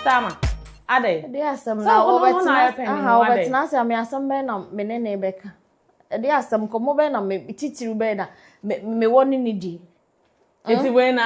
Sama. Adɛ. Ɛde asɛm na wɔbɛtena aha wɔbɛtena ase ame asɛm bɛn na me ne ne bɛka. Ɛde asɛm kɔmɔ bɛn na me titiriw bɛn na me wɔ ne ne di. Eti hmm? wei na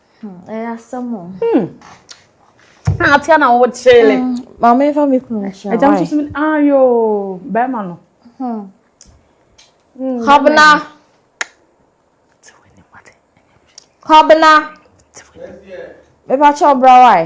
Hmm, ɛyɛ asɛm o. Hmm. Ah, atia na wo kyele. Hmm, maame nfa mi kunu nhyira. Ɛgya nso mi ayo ah, bɛrima no. Hmm. Kɔbena. Kɔbena. Mepa kyɛ ɔbra wae.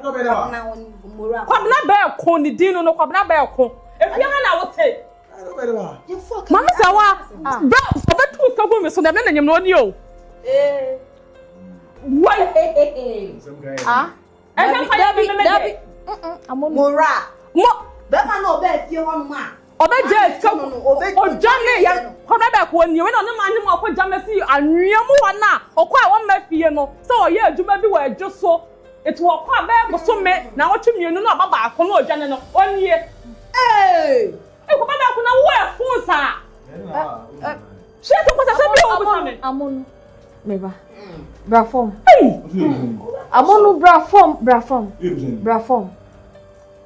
Kwabena Onibumura. Kwabena Bɛɛko ne din no no Kwabena Bɛɛko. Efie ha na wote. Maame sɛ wa bɛ sɛ bɛ tu nsa gu mi so na ɛbɛ na nyamina ɔni o. Wai. Ah. Ɛnna fa yɛ bi mɛmɛ de. Mura. Mo. Bɛma na ɔbɛ efie hɔ nom a. Ɔbɛgyaa sika mu no, ɔdwanee yɛ kɔbea bɛkɔ hɔ. Nea wei na ɔne maa ne mu akɔgya me fi anwea mu hɔ no a ɔkɔɔ a wɔmma fie no sɛ ɔyɛ adwuma bi wɔ adwo so. Enti wɔkɔ a bɛyɛ bosome naawɔtwe mmienu na ɔba baako na ɔdwane no, ɔnie. Ee, kɔbea bɛkɔ na wowɔ ɛfo saa. Hyɛ sɛ nkɔsɛsɛ bi a wɔbusa me. Amono, me ba, bra fam. Amono, bra fam, bra fam, bra fam.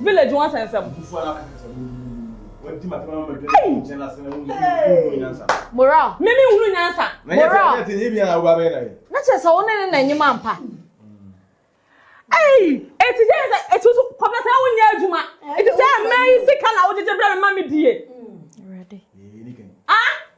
Village ho asɛnsɛm. Ei! Moral. Me me nhunu nyansa. Moral. Na kyerɛ sɛ wo ne ne na enyim ampa. Ei! Eti gye sɛ etu so kɔpɛ sɛ wo nyɛ adwuma. Eti sɛ mmaa yi sika na wogyegye brɛ me ma me die. Ah!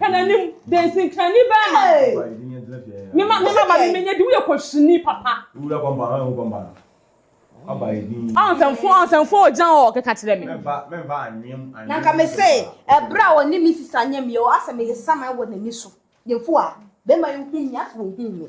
Hwɛ n'anim de nsenkrani bɛn ma. Ne ma ne ma ma ne menya di woyɛ kɔsini papa. Wura kɔmpa ɔn ho kɔmpa no. Aba edin. Ɔn sɛnfo ɔn sɛnfo ɔgyan ɔ keka kyerɛ me. Mɛmfa mɛmfa anwem anwem. Na nka me se ɛbrɛ a ɔne me sisa nyɛ me o asɛ meyɛ saman wɔ n'ani so. Yɛmfo a bɛma yi hu me asɛ ɔhuu me.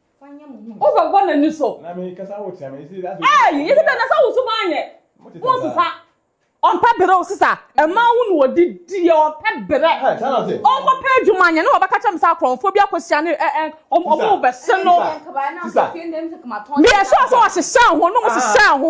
wobɛbɔ n'ani so yɛsɛ dɛ na sɛ woso ma anyɛ wonsesa ɔmpɛ berɛ o sesa ɛma wo na ɔde diɛ ɔmpɛ berɛ ɔnkɔpɛ adwuma anyɛ ne wɔbɛka kyɛm sɛ akorɔmfoɔ bi akɔhyia ne ɔmo bɛse no meyɛ sure sɛ ɔhyehyɛ ho no mo hyehyɛ ho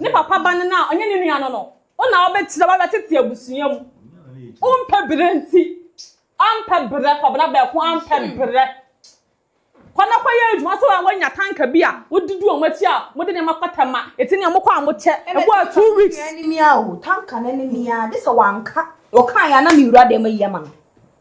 Ne papa ba no no a ɔnyɛ ne nua no no, wo na wobɛkyerɛ w'awerɛ tete abusua mu. Wompɛ berɛ nti, ampɛ berɛ, Kwabena Bɛɛko ampɛ berɛ. Kɔ na kɔ yɛ adwuma sɛ woanya tanka bi a wodidi wɔn akyi a mode nneɛma kɔtɛ ma ɛti ne wɔn kɔ a mokyɛ ɛbɔ a two weeks. Ɛnɛ tanka no ne mea o, tanka no ne mea, gye sɛ wanka, ɔkaeɛ a na me wura dɛm ayi ama no.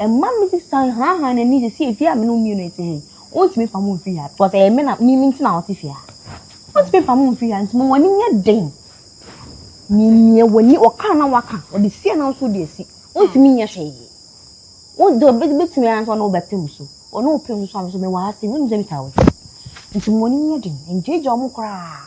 Ɛma me de san hanahan n'ani de se fie a me ne wo mmienu ɛte he, wontumi mfa mo mfiri ha because ɛyɛ me na me me nti na ɔte fie ha. Wontumi mfa mo mfiri ha nti ma w'ani nyɛ den. Mimia w'ani, wɔkaa na waka, wɔde sie na nso de asi. Wontumi nyɛ hwee. Wo de ɔbɛ bɛtumi ara nso ɔne wobɛpem so. Ɔne wopem so a me nso mewɔ ha sei, wonnim sɛ metaa wo kyɛ. Nti ma w'ani nyɛ den, ngyaagyaa wɔn koraa.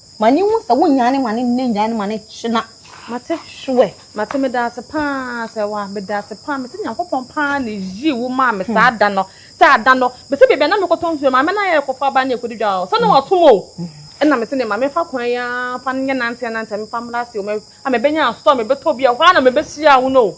Ma ne wu sɛ wo nyaa ne ma ne nnɛ nyaa ne ma ne kyena. Mate hwɛ mate medaase paa sɛ wa medaase paa mese nyankopɔn paa ne yii wo maa me saa da no sɛ ada no mese bebia na mekɔtɔ nsuo maame na yɛ kɔfa aba ne ɛkɔdi dwa o sɛ na watom o ɛna mese ne ma mefa kwan ya fa nyɛ nante nante mefa mmra ase o a mebɛnya asɔ mebɛtɔ bi a hɔ a na mebɛhyia wo no o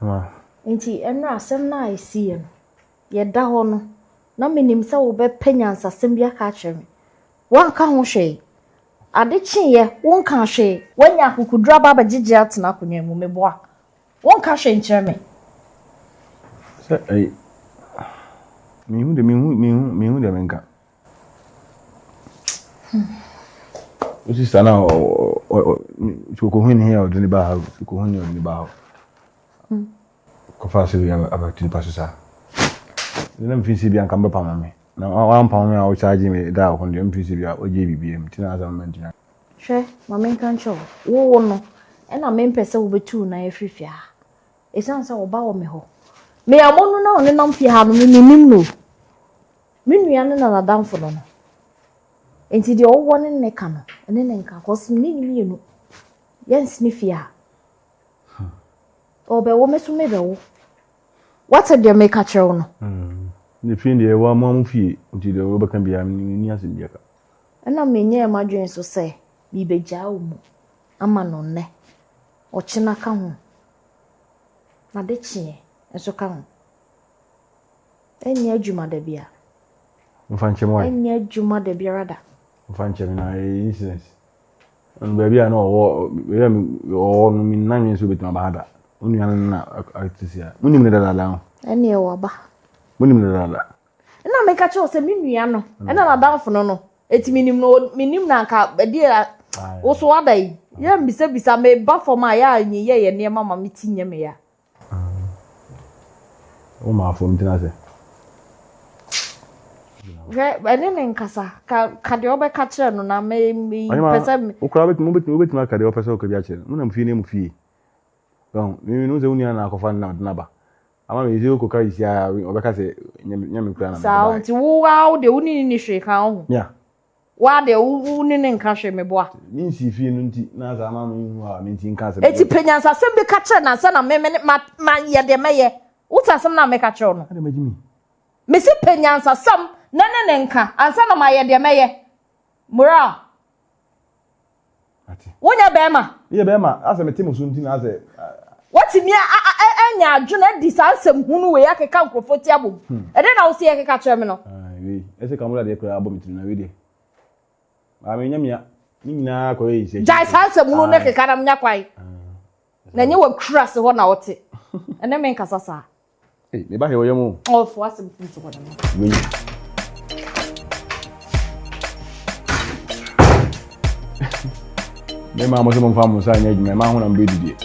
Wow. Nti ɛnora asɛm no a ɛsiiɛ no, yɛda hɔ no, na menim sɛ wobɛpɛ nyansasɛm bi aka akyerɛ me. Woanka ho hwee. Ade kyeeɛ, wonka hwee. Woanya akokoduro aba abɛgyegye atena akonnwa mu, meboa. Wonka hwee nkyerɛ me. Sɛ ɛy. Menhu de, menhu, menhu, menhu deɛ menka. O sista na o o o soko ho ni o dini ba ha soko ho ni o dini ba ha. Ko fa se bi aba tini pa sisa. Ni na mfin se bi anka mbapa mami. Na wa mpa mami a o charge me da o kondi mfin se bi a o je bi bi mti na asa mami ntina. Hwɛ ma menka nkyerɛ wo wowo no ɛna mempɛ sɛ wobɛtu wo nan afiri fie ha ɛsiane sɛ wo ba wɔ me hɔ meammɔ no na ɔne nam fie ha no memenim no Me nua no na n'adamfo no no. Enti deɛ ɔwɔ ne nne ka no, ɛne ne nka, kɔs me ne ne mmienu yɛnsene fie ha. Hmm. Ɔbɛwo me so mebɛwo. Wate deɛ meka kyerɛ wo no? Hmm. Ne fie deɛ ɛwɔ amoa mo fie, nti deɛ wɔbɛka biara menni asɛm bi aka. Ɛna menyɛɛ m'adwene so sɛ mebɛgyaa wo mu ama no nnɛ, ɔkyena ka ho, na de kyeɛ nso ka ho. Ɛnyɛ adwuma da bia. Nfa nkyɛm why? Ɛnyɛ adwuma da biara da. Nfa nkyɛm na ɛyɛ eh, incident. Ɛnu baabi a na ɔwɔ baabi a ɔwɔ no mi nan mi nso betuma ba ha da. Onua no na ati si a. Mo nim ne dadaada ho. Ɛne ɛwɔ ba. Mo nim ne dadaada. Ɛna mi ka kyerɛ sɛ mi nua no ɛna n'adanfo no no eti mi nim no mi nim na nka ɛdi a woso ada yi yɛ mbisabisa mi ba fam a yɛ a nyi yɛ yɛ nneɛma ma mi ti nyɛ mi ya. Hwɛ, ɛne ne nkasa. Ka, ka deɛ wobɛka kyerɛ no na me, me pɛ sɛ me. Wokora wobɛtumi wobɛtumi wobɛtumi aka deɛ wopɛ sɛ woka bi akyerɛ no. Monam fie ne mu fie. Bɛn, mimi no sɛ wonua na akɔfa no na ɔde naba. Ama me sɛ wokɔka yi sia ɔbɛka sɛ nyɛ me kura na mede baeɛ. Saa, nti wo ara wo deɛ wo ne ne ni hwee ka wo ho. Mia. Woaa deɛ wo ne no nka hwee meboa. Me nsii fie no nti na saa ma me nhu a me nti nka asɛm. Enti pɛ nyansasɛm bi ka kyerɛ no ansa na me ne ma ma yɛ deɛ mɛyɛ. Wote asɛm no a meka kyerɛ wo no? Adɛn ma Jimmy? Mese pɛ nyansasɛm na ne no nka ansa na ma yɛ deɛ mɛyɛ. Moral. Ate. Wonyɛ bɛrima. Meyɛ bɛrima. Asɛ mete mo so nti na asɛ. Watumi anya adwene adi saa nsɛm hunu wei akeka nkurɔfoɔ ti abom. Hmm. Ɛdɛn na wosɛ yɛkeka kyerɛ me no? Ae, wei. Ɛsɛ kamula deɛ koraa abɔ me tirim na wei deɛ. Baa me nyamia. Ne nyinaa kɔyɛ yi sɛ. Gyae saa nsɛm hunu ne keka na menya kwan. Na nyɛ wakura se hɔ na wote. Ɛne me nkasa saa. Hey, me ba hewa ya mu. Oh, for us, I'm so good. Me ma mo se mo fa mo sa nya dwuma ma ho na mbe didie.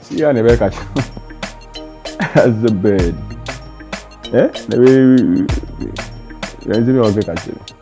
Si ya na be ka kye. As a bed. Eh? Na be. Yanzi me o be ka kye.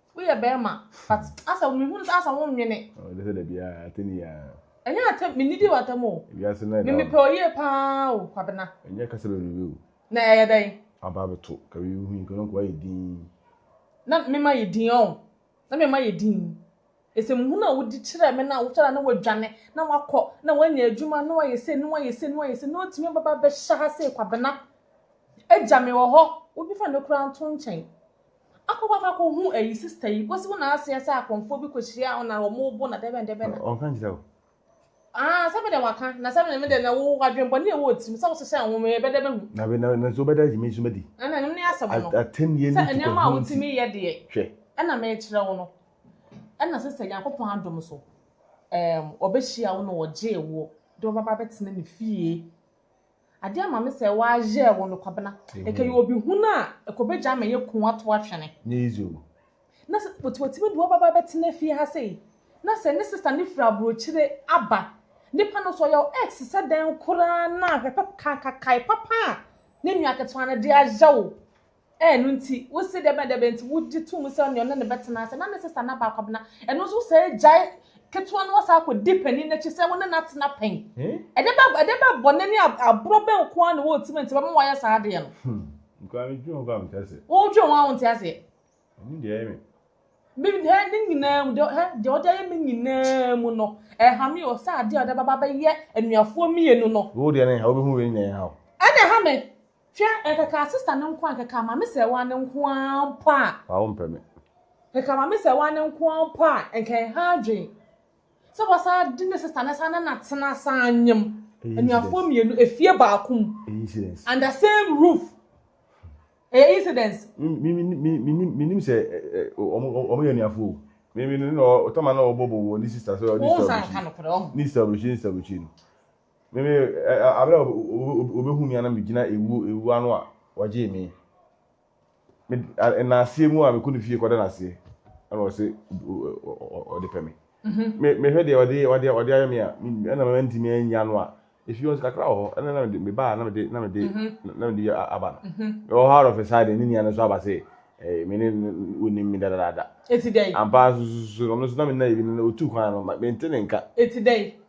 Woyɛ bɛrima but asɛ me hunu sɛ asɛ wo nwene. Ɔwɔ de sɛ da biara atɛni yaa. Ɛnyɛ atɛm me nidi wɔ atɛm o. Wiase na ɛda. Me mepɛ oyie paa o kwabena. Ɛnyɛ kasa bebrebe o. Na ɛyɛ dɛn. Aba abɛto ka bibi ho yi kɔ na nkoa yɛ din. Na me ma yɛ din ɔn na me ma yɛ din. Ɛsɛm hunu a wodi kyerɛ me na wosɔre a na wadwane na wakɔ na wanya adwuma na wayɛ sei na wayɛ sei na wayɛ sei na watumi ababa abɛhyɛ ha sei kwabena agya me wɔ hɔ wobɛfa no koraa nto nkyɛn Akɔ kɔ akɔ kɔ hu ɛyi sister yi kosi wo na aseɛ sɛ akɔnfoɔ bi kɔ hyia wo na wɔn bo na dɛbɛn dɛbɛn na. Ɔnka nkyerɛ wo. Ah sɛ me deɛ waka na sɛ me deɛ na wo wadwen bɔ ne ɛwɔ tirim sɛ wo hyehyɛ nwom yɛ bɛdɛ bɛhu. Na bɛ na nso bɛdɛ agye me nso madi. Ɛna ɛno ne asɛm no. Atɛnnie ne tukɔ ho nti. Sɛ nneɛma a wotumi yɛ deɛ. Hwɛ. Ɛna mekyerɛ wo no. Ɛna sister Nyankopɔn adom so ɛɛm ɔbɛhyia wo na ɔgyee woɔ de wo bɛba bɛtena ne fie. Ade ama me sɛ wɔayɛ wɔ me kwabena. Ɛkɛyɛ obi hunu a ɛkɔbɛgya ama yɛ ku ato atwene. Na sɛ watumi de wo ababaa bɛtena fie ha sei, na sɛ ne sista no firi aburokyire aba, nipa no nso ɔyɛ wo ex sɛ dɛn koraa no a, hwɛ papa, kae papa a ne nua ketewa no de ayɛ wo. Ɛno nti, wo se dɛbɛn dɛbɛn nti wo gye to mu sɛ ɔne ɔne no bɛtena ase, na ne sista no aba akɔbena, ɛno nso wo saa gyae ketewa no wasan akɔ di panin no akyi sɛ wo ne no atena pɛn? Ɛde bɛ ɛde bɛ bɔne ne aborɔ bɛn nko ara na ɛwɔ wo tirim a nti ɛbɛma wayɛ saa adeɛ no? Hmm, mekura me dwen ho koraa mente aseɛ. Wo dwen ho a wonte aseɛ? Ɛnim deɛ ɛyɛ me. Me hɛ ne nyinaa mu deɛ hɛ deɛ ɔde ayɛ me nyinaa mu no ɛha me o sɛ adeɛ a ɔde bɛba bɛyɛ anuafoɔ mmienu no. Wo deɛ ne ha wobɛhu wei nyinaa ɛha wo. Ɛna ɛha me. Hwɛ, nkeka asista no nko a, nkeka amame sɛɛ waa no nko ara mpo a. Waa wompɛ me. Nkeka amame sɛɛ waa no nko ara mpo a, nka ɛha adwen sɛ wasan de ne sista no san ne no atena asa anyem anuafoɔ mmienu efie baako mu. Ɛyɛ incidence. Under same roof. Ɛyɛ incidence. Me, me, me, me, me, me nim sɛ wɔn yɛ anuafoɔ o. Me, me, no, ɔtama na ɔbɔbɔ wɔ ne sista sɛ ɔne sista ɔbɛkyi. Ne sista ɔbɛkyi, ne sista ɔbɛkyi no. Me me ɛ ɛ abere a obe obe obe obehu me a na me gyina ewu ewu ano a wɔgyee me me nnaseɛ mu a mekɔ ne fie kɔda naseɛ ɛna ɔse ɔde pɛ me me mehwɛ deɛ ɔde ɔde ɔde ayɛ me a ɛna mama ntumi anya no a efi wɔn kakra wɔ hɔ ɛna na mede me baa na mede na mede na mede aba no ɛwɔ hɔ arɔfɛ saa deɛ ne nua no nso aba se ɛɛ me ne onim me dadadaada eti dɛ ampa nso nso ɔno nso na me nna ebi no otu kwan no me nte ne nka eti dɛ.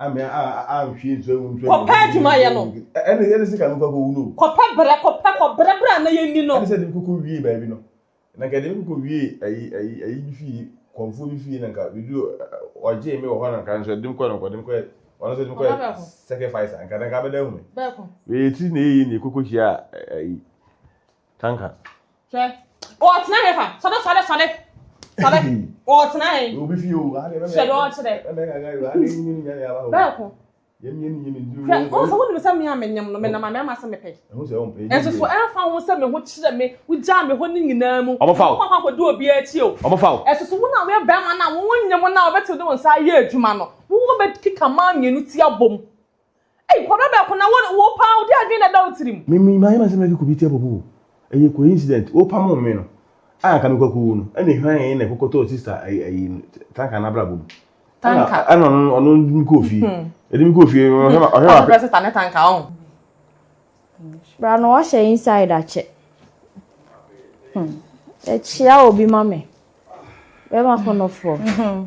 kɔpɛ adwuma yɛ no kɔpɛ berɛ kɔpɛ kɔberɛ berɛ a na yɛni no na nka deɛ mekɔ wie ayi ayi ayi bi fie kɔnfoɔ bi fie na nka biribi ɔgyee me wɔ hɔ na nka nso ɛde mkɔ na nkɔde mkɔ ɔno nso de mkɔ sacrifice nka nka bɛda hu me bɛyɛ ti na ɛyi na ɛkɔkɔ hyia ayi Kanka. Hwɛ. Ɔtena hɛ fa. Sɔre sɔre sɔre. Sɔre. Ɔtena hɛ. Obi fi o. Hwɛ dɛ ɔkyerɛ. Bɛɛko. Hwɛ ɔn sɛ wonim sɛ me a menyem no menam amena ma sɛ mepɛ. Nso so ɛmfa ho sɛ me ho kyerɛ me wogyaa me hɔ ne nyinaa mu. Ɔmo fa o. Ɔmo akɔ di obi akyi o. Ɔmo fa o. Ɛso so wo na woyɛ bɛɛma na wo nyem na ɔbɛtew de wo nsa ayɛ adwuma no. Wo bɛ keka maa mmienu ti abom. Ei kwabra bɛko na wo wo paa wo de adwene na ɛda wo tirim. Me me mayɛ m'asɛm na kikubiti abɔbu o ɛyɛ coincident wo pamoo me no a anka me kɔ akɔwu no ɛna hwan yɛ na ɛkɔ kɔtɔɔ sister ayi ayi tanka no abrabɔ mu ɛna ɛna ɔno ɔno de me kɔɔ fie ɛde me kɔɔ fie ɔhwɛ ma ɔhwɛ ma pɛ sister ne tanka ɔn bra no wahyɛ inside akyɛ ɛkyia obi ma me bɛma kɔnɔfoɔ.